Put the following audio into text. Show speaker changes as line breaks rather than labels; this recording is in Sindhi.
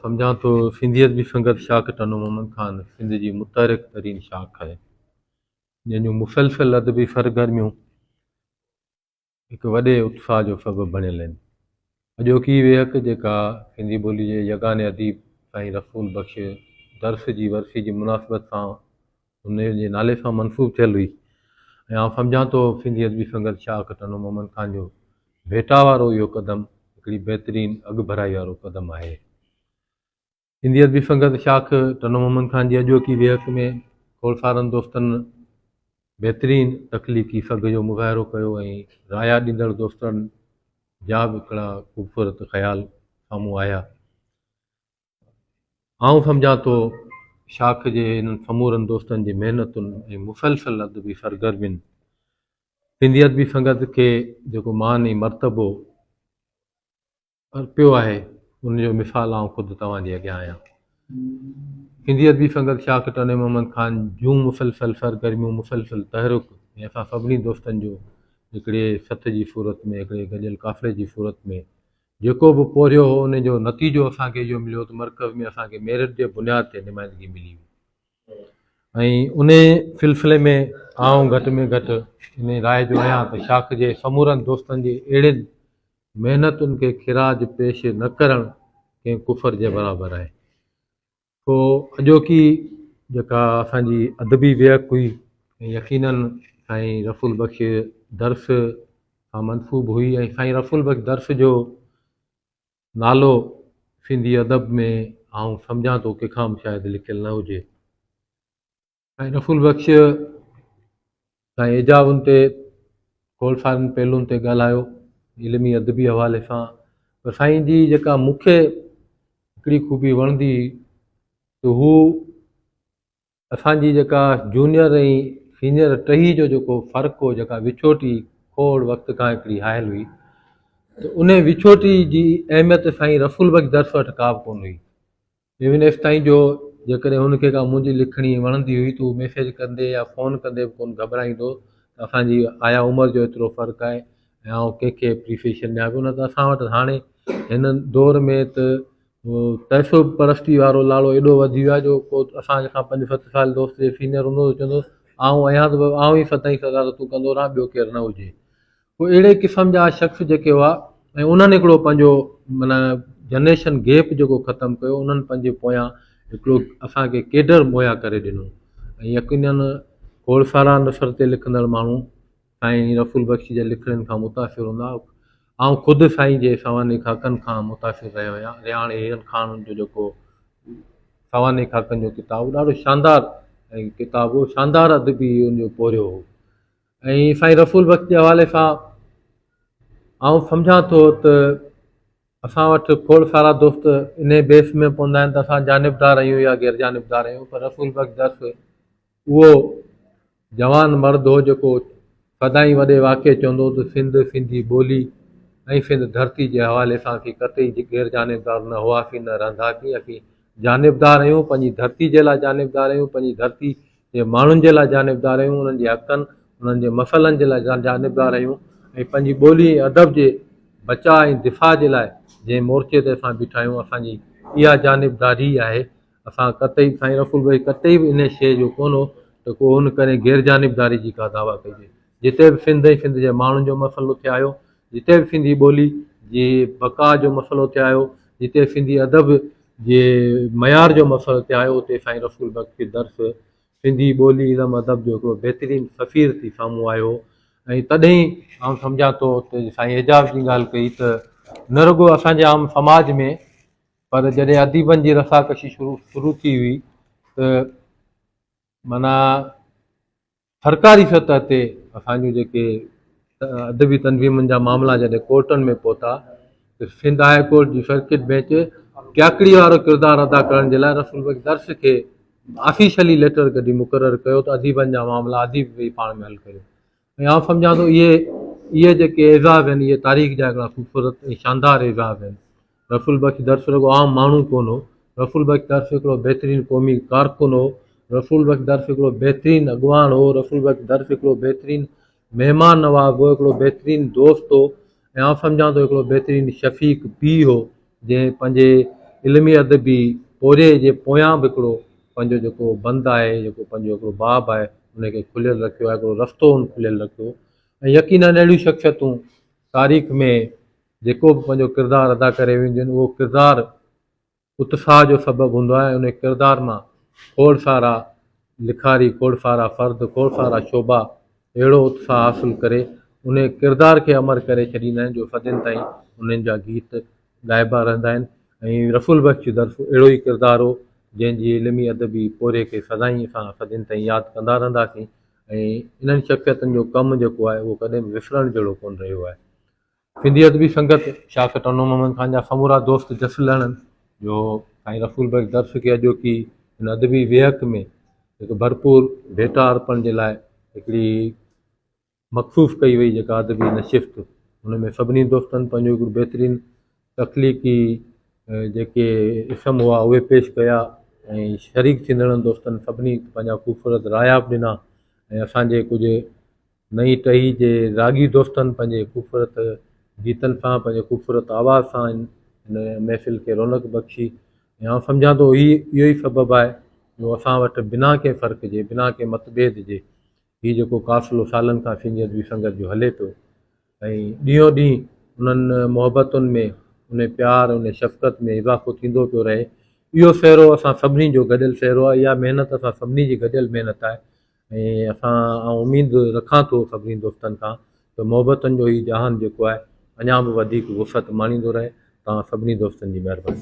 سمجهان ٿو سنڌيت جي سنگت شاخ ٽنڊو محمد خان سنڌ جي متحرڪ ترين شاخ آهي جنهن جون مسلسل ادبي سرگرميون هڪ وڏي اتساهه جو سبب بڻيل آهن اڄوڪي ويهڪ جيڪا سنڌي ٻولي جي يگاني اديب سائين رسول بخش درس جي ورسي جي مناسبت سان ان جي نالي سان منسوب ٿيل هئي ۽ آئون سمجهان ٿو سنڌي ادبي سنگت شاهه کٽندو محمد خان جو ڀيٽا وارو اهو قدم هڪڙي بهترين اڳڀرائي وارو قدم آهي سنڌي ادبي سنگت شاخ ٽنو محمد خان جي اڄوڪي ويهڪ ۾ کولسارن دوستن بهترين تخليقي سگهه جو مظاهرو ڪيو ۽ رايا ڏيندڙ دوستن جا به هڪڙا خوبصورت خيال سامهون آيا آئون سمجهان ٿو شاخ جي انهن سمورن دوستن جي محنتن ۽ مسلسل ادبي سرگرمين سنڌي ادبي سنگت کي جيڪو مان ۽ مرتبو ارپيو آهي ان جو مثال آئون خود توهان جي اڳيان آهيان سنڌي ادبي سنگت شاخ ٽني محمد خان جون مسلسل سرگرميون مسلسل تحرڪ ۽ اسان سڀني دوستن جو هڪڙي سٿ جي صورت ۾ هڪڙي گڏيل قافلي جي صورت ۾ جيڪو به پورهيو هو ان جو نتيجو اسان کي اهو مليو ته مرڪز ۾ اسان کي ميرٽ جي بنياد تي نمائندگي ملي هئي ۽ ان سلسلي ۾ آئون گهٽ ۾ گهٽ ان راء جو آهيان ته شاخ جي سمورن دوستن جي اهڙين محنتن کي خراج پيش نه ڪرڻ ڪنهن ڪفر جي برابر آهي. سو اڄوڪي جيڪا اسان جي ادبي ويهڪ هئي يقيناً سائين رسول بخش درس سان منسوب هئي ۽ سائين رسول بخش درس جو نالو سنڌي ادب ۾ آئون سمجهان ٿو ڪنهن کان به شايد لکيل نه هجي سائين رفول بخش سائين ايجاون تي گول سارن پهلون تي ڳالهايو علمي ادبي حوالي سان پر سائين جي جيڪا مون کي هڪڙي خوبي وڻندي هئي ته هو اسانجي جيڪا جونيئر ۽ سينيئر ٽهي جو جيڪو فرق هو جيڪا وڇوٽي کوڙ وقت کان هڪڙي هايل هئي ته ان وڇوٽي جي اهميت سائين رفول بخش درس وٽ ڪا به ڪون هئي ايون ايف تائين جو جيڪڏهن هن کي ڪا منهنجي لکڻي وڻندي هئي ته هو ميسيج ڪندي يا فون ڪندي به ڪونه گهٻرائيندو ته اسان جي آيا عمر جو ايترو فرق آهي ۽ آئون ڪنهن کي اپريسيشن ڏيان پيو نه ته اسان وٽ هاڻي هن دور ۾ ته پئسو پرستي وارو لاڙو ايڏو وڌي ويو آهي جو ڪو اسان کان پنج ست سال دوست جي سينئر هوندو هو چوندو هو آئون آهيان ته آئون ئي سدائين سزا ته تون ڪندو رهان ٻيو ڪير نه هجي هو اهڙي قسم جا شخص جيڪي هئا ۽ انهن هڪڙو پنهنجو معنيٰ جنريشن گيپ جيڪو ختم ڪيو انهن پنهنجي پويان هڪڙو اسان کي ڪيڊر مهيا ڪري ڏنو ۽ يقينن کوڙ سارا نثر تي لکندڙ ماڻهو سائين رسول بخش جي لکڻين کان متاثر هوندا آئون خود سائين جي سوانح خاڪن کان متاثر رهيو آهيان رياڻ هيرن خان جو جيڪو سوانح خاڪن جو ڪتاب ڏاڍو شاندار ۽ ڪتاب هو شاندار ادبي ان جو پورهيو هو ۽ سائين رسول بخش جي حوالي سان آئون سمجهان ٿو ته اسان وٽ کوڙ سارا دوست انهي بيس ۾ پوندا آهن ته اسان جانبدار آهيون يا غير جانبدار آهيون پر رسول بخش درس اهو جوان مرد هو جيڪو سدائين وڏي واقعي چوندو هو ته سنڌ سنڌي ٻولي ۽ سنڌ ڌرتي جي حوالي سان اسين قطعي غير جانبدار نه هئاسين نه رهنداسين اسين جانبدار آهيون پنهنجي ڌرتي جي لاء جانبدار آهيون پنهنجي ڌرتي جي ماڻهن جي لاء جانبدار آهيون انهن جي حقن انهن جي مسئلن جي لاء جانبدار آهيون ۽ پنهنجي ٻولي ۽ ادب جي بچاء ۽ دفاع جي لاء جنهن مورچي تي اسان بيٺا آهيون اسان جي اها جانبداري آهي اسان قطعي سائين رسول ڀائي قطعي به انهي شيء جو ڪونه ته ڪو ان ڪري غير جانبداري جي ڪا دعويٰ ڪجي جتي به سنڌ ۽ سنڌ جي ماڻهن جو مسئلو ٿي آيو، جتي به سنڌي ٻولي جي بقا جو مسئلو ٿي آيو، جتي سنڌي ادب جي معيار جو مسئلو ٿي آيو اتي سائين رسول بخش کي درس سنڌي ٻولي علم ادب جو هڪڙو بهترين سفير ٿي سامهون آيو ۽ تڏهن آئون سمجهان ٿو ته سائين اعجاز جي ڳالهه ڪئي ته نه رڳو اسان جي عام سماج ۾ پر جڏهن اديبن جي رساڪشي شروع شروع ٿي هئي ته معنيٰ سرڪاري سطح تي اسان جون جيڪي ادبي تنظيمن جا معاملا جڏهن ڪورٽن ۾ پهتا ته سنڌ هاء ڪورٽ جي سرڪٽ بينچ ٽياڪڙي وارو ڪردار ادا ڪرڻ جي لاء رسول بخش درس کي آفيشلي ليٽر ڪڍي مقرر ڪيو ته اديبن جا معاملا اديب ويهي پاڻ ۾ حل ڪريو ۽ آئون سمجھان ٿو اهي اهي جيڪي اعزاز آهن اهي تاريخ جا هڪڙا خوبصورت ۽ شاندار اعزاز آهن رفل بخش درس رڳو عام ماڻهو ڪو نه هو، رفل بخش درس هڪڙو بهترين قومي ڪارڪن هو، رفل بخش درس هڪڙو بهترين اڳواڻ هو، رفل بخش درس هڪڙو بهترين مهمان نواز هو، هڪڙو بهترين دوست هو ۽ آئون سمجهان ٿو هڪڙو بهترين شفيق پيء هو، جنهن پنهنجي علمي ادبي پورهيي جي پويان به هڪڙو پنهنجو جيڪو بند آهي، جيڪو پنهنجو هڪڙو باب آهي، ان کي کليل رکيو آهي، هڪڙو رستو هن کليل رکيو ۽ يقينن اهڙيون شخصيتون تاريخ ۾ جيڪو به پنهنجو ڪردار ادا ڪري وينديون اهو ڪردار اتساهه جو سبب هوندو آهي انهي ڪردار مان کوڙ سارا لکاري کوڙ سارا فرد کوڙ سارا شعبا اهڙو اتساهه حاصل ڪري انهي ڪردار کي امر ڪري ڇڏيندا آهن جو صدين تائين انهن جا گيت ڳائبا رهندا آهن ۽ رسول بخش جي طرف اهڙو ئي ڪردار هو جنهن جي علمي ادبي پورهيي کي سدائين اسان صدين تائين ياد ڪندا رهنداسين ۽ انهن شخصيتن جو ڪم جيڪو آهي اهو ڪڏهن به وسرڻ جهڙو ڪونه رهيو آهي. سنڌي ادبي سنگت شاهه سٽ انور محمد خان جا سمورا دوست جس لهڻن جو سائين رسول بخش درس کي اڄوڪي هن ادبي ويهڪ ۾ هڪ ڀرپور ڀيٽا ارپڻ جي لاء هڪڙي مخصوص ڪئي وئي جيڪا ادبي نشست ان ۾ سڀني دوستن پنهنجو هڪڙو بهترين تخليقي جيڪي اسم هئا اهي پيش ڪيا ۽ شريڪ ٿيندڙن دوستن سڀني پنهنجا خوبصورت رايا به ڏنا ۽ اسانجي ڪجهه نئين ٽهي جي راڳي دوستن پنهنجي خوبصورت گيتن سان پنهنجي خوبصورت آواز سان هن محفل کي رونق بخشي ۽ آئون سمجهان ٿو هي اهو ئي سبب آهي جو اسان وٽ بنا ڪنهن فرق جي بنا ڪنهن متڀيد جي هي جيڪو قافلو سالن کان سينيت وي سنگت جو هلي پيو ۽ ڏينهون ڏينهن انهن محبتن ۾ ان پيار ان شفقت ۾ اضافو ٿيندو پيو رهي اهو سهرو اسان سڀني جو گڏيل سهرو آهي اها محنت اسان سڀني جي گڏيل محنت آهي ۽ اسان آئون اميد رکان ٿو سڀني دوستن کان ته محبتن جو هي جهان جيڪو آهي اڃا به وڌيڪ وسعت ماڻيندو رهي توهان سڀني دوستن جي مهرباني.